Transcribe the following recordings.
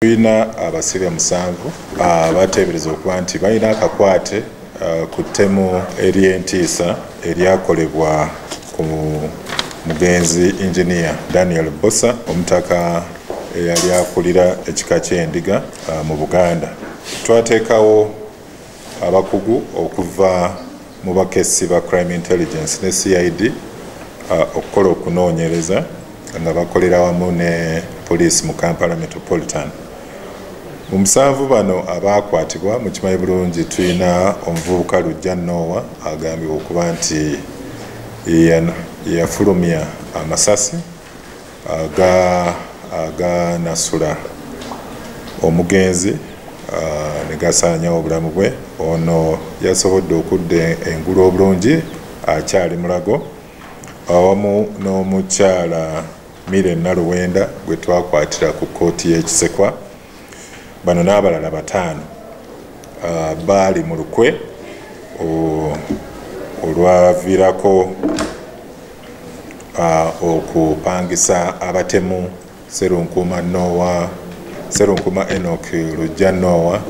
tulina abasibe musanvu abateebereza okuba nti balina akakwate ku ttemu ery'entiisa eryakolebwa ku mugenzi inginiya daniel bosa omutaka eyali akulira ekika ky'endiga mu buganda twateekawo abakugu okuva mu bakessi ba crime intelligence ne cid uh, okukola okunoonyereza nga bakolera wamu ne poliisi mu kampala metropolitan mu musanvu bano abaakwatibwa mu kimanyi bulungi tulina omuvubuka lujja noowa agambibwa okuba nti yeyafulumya amasasi aga aga nasula omugenzi uh, ne gasaanyawo obulamu bwe ono yasobodde okudda engulu obulungi akyali mulago awamu n'omukyala mire naluwenda gwe twakwatira ku kkooti y'ekisekwa bano n'abalala bataano uh, baali mu lukwe olwavirako uh, okupangisa abatemu serunkuma nowa serunkuma enok lujja nowa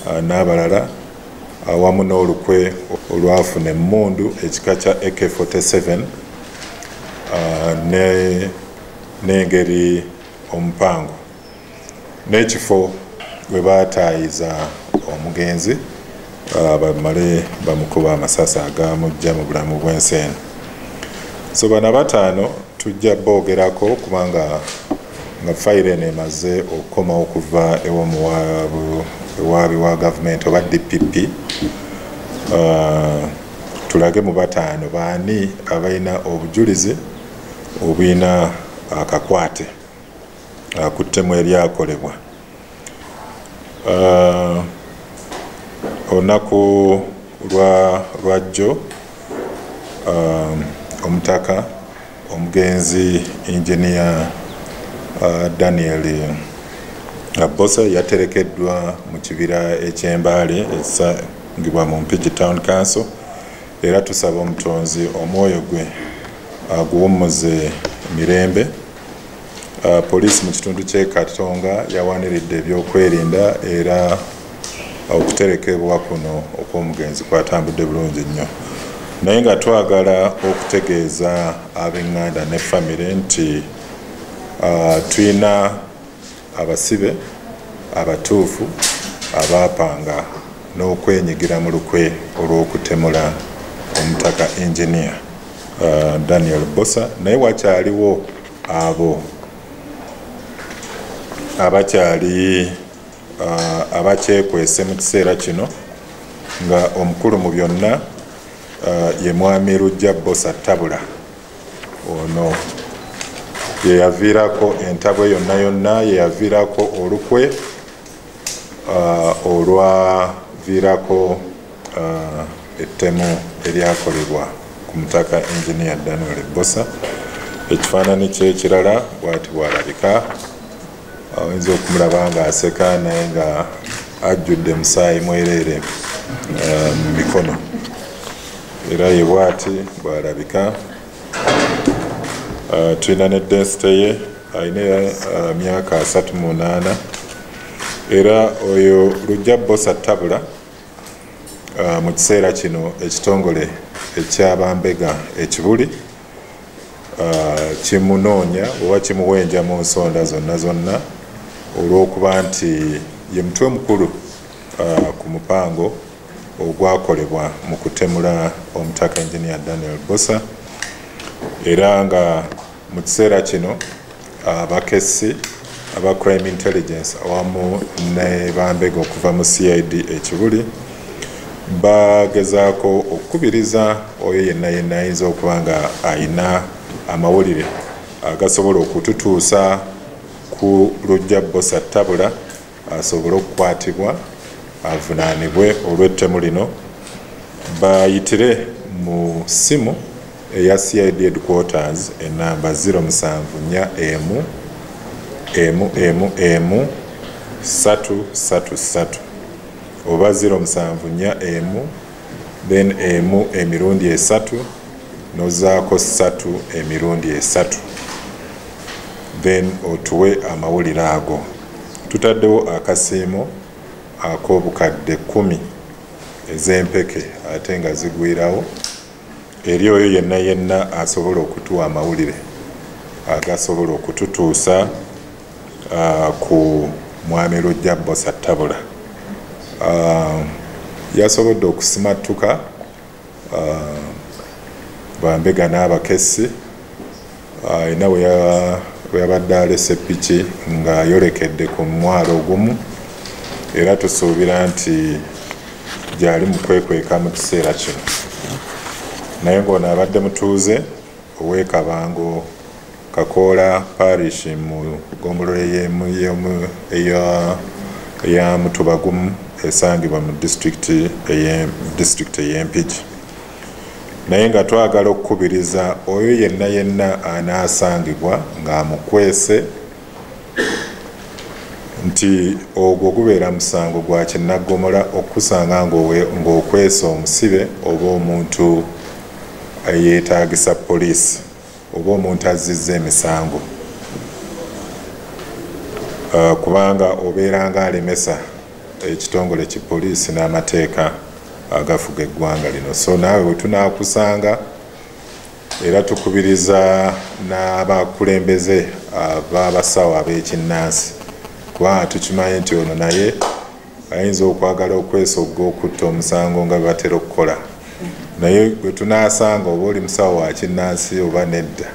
uh, n'abalala awamu uh, n'olukwe olwafuna emmundu ekika kya ak47 uh, n'engeri ne omupango n'ekifo we baataayiza omugenzi uh, bamale bamukuba amasasi agamujja mu bulamu bw'ensi eno so bana bataano tujja boogerako kubanga nga fayiro eno emaze okukoma okuva ewomuwaabi wa gavumenti oba dpp uh, tulage mu bataano baani abalina obujulizi obulina akakwate uh, uh, ku ttemu eryakolebwa uh, olunaku lwajjo um, omutaka omugenzi engineer uh, daniel abbosa yaterekeddwa mu kibira ekyembaale ekisangibwa mu mpigi town council era tusaba omutonzi omwoyo gwe aguwummuze mirembe Uh, poliisi mu kitundu ky'e katonga yawaniridde ebyokwerinda era okuterekebwa kuno okw'omugenzi kwatambudde bulungi nnyo naye nga twagala okutegeeza ab'eŋŋanda ne famire nti uh, tulina abasibe abatuufu abaapanga n'okwenyigira mu lukwe olw'okutemula omutaka engineer uh, daniel bosa naye wakyaliwo abo abakyali abakyekwese mu kiseera kino nga omukulu mu byonna ye mwami lujja bosa tabula ono yeyaviirako entabwe yonna yonna yeyaviirako olukwe uh, olwaviirako uh, ettemu eryakolebwa ku mutaka engineer daniel ebbosa ekifaanani kyekirala bwati bwalabika oyinza okumulaba nga aseka naye nga ajjudde musaayi mwereere uh, mu mikono era ye bwati bwalabika uh, tulina ne densite ye alina uh, myaka asatu munaana era oyo lujja bosa tabula uh, mu kiseera kino ekitongole ekyabambega ekibuli uh, kimunoonya oba kimuwenja mu nsonda zonna zonna olw'okuba nti ye mutwe mukulu uh, ku mupango ogwakolebwa mu kutemula omutaka enginia daniel bosa era nga Mu kiseera kino abakessi aba crime intelligence awamu ne bambega okuva mu cid ekibuli bagezaako okukubiriza oyo yenna yenna ayinza okuba nga alina amawulire agasobola okututuusa ku lujja bosa tabula asobole okukwatibwa avunaanibwe olw'ettemu lino bayitire mu ssimu eya cid headquarters enamba 074 emu emu emu emu satu satu satu oba 074 emu then emu emirundi esatu nozaako satu emirundi esatu then otuwe amawulire ago tutaddewo akasiimo ak'obukadde kumi ez'empeke ate nga zigwirawo eri oyo yenna yenna asobola okutuwa amawulire agasobola okututuusa uh, ku mwami lujja bosa tabula uh, yasobodde okusimattuka uh, bambega n'abakessi ayina uh, weyabadde alese piki nga yolekedde ku mwalo ogumu era tusuubira nti gyali mu kwekweka mu kiseera kino naye ng'ono abadde mutuuze ow'ekabango Kakoola Parish mu ggombolola eya Mutubagumu esangibwa mu disitulikiti ey'e Mpigi. Naye nga twagala okukubiriza oyo yenna yenna anaasangibwa ng'amukwese nti ogwo gubeera musango gwa kinnaggomola okukusanga ng'okwesa omusibe oba omuntu eyeetaagisa poliisi. oba omuntu azzizza emisango uh, kubanga obeera nga alemesa ekitongole ki poliisi n'amateeka agafuga eggwanga lino so naawe wetunakusanga era tukubiriza n'abakulembeze ab'abasawo ab'ekinnansi kubanga tukimanyi nti ono naye ayinza okwagala okwesogga okutta omusango nga bebatera okukola naye gwe tunasanga oba oli musawo wakinnansi oba nedda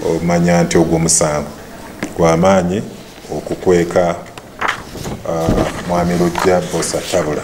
omanya nti ogwo musango gwamaanyi okukweka uh, mwami lujja bosa tabula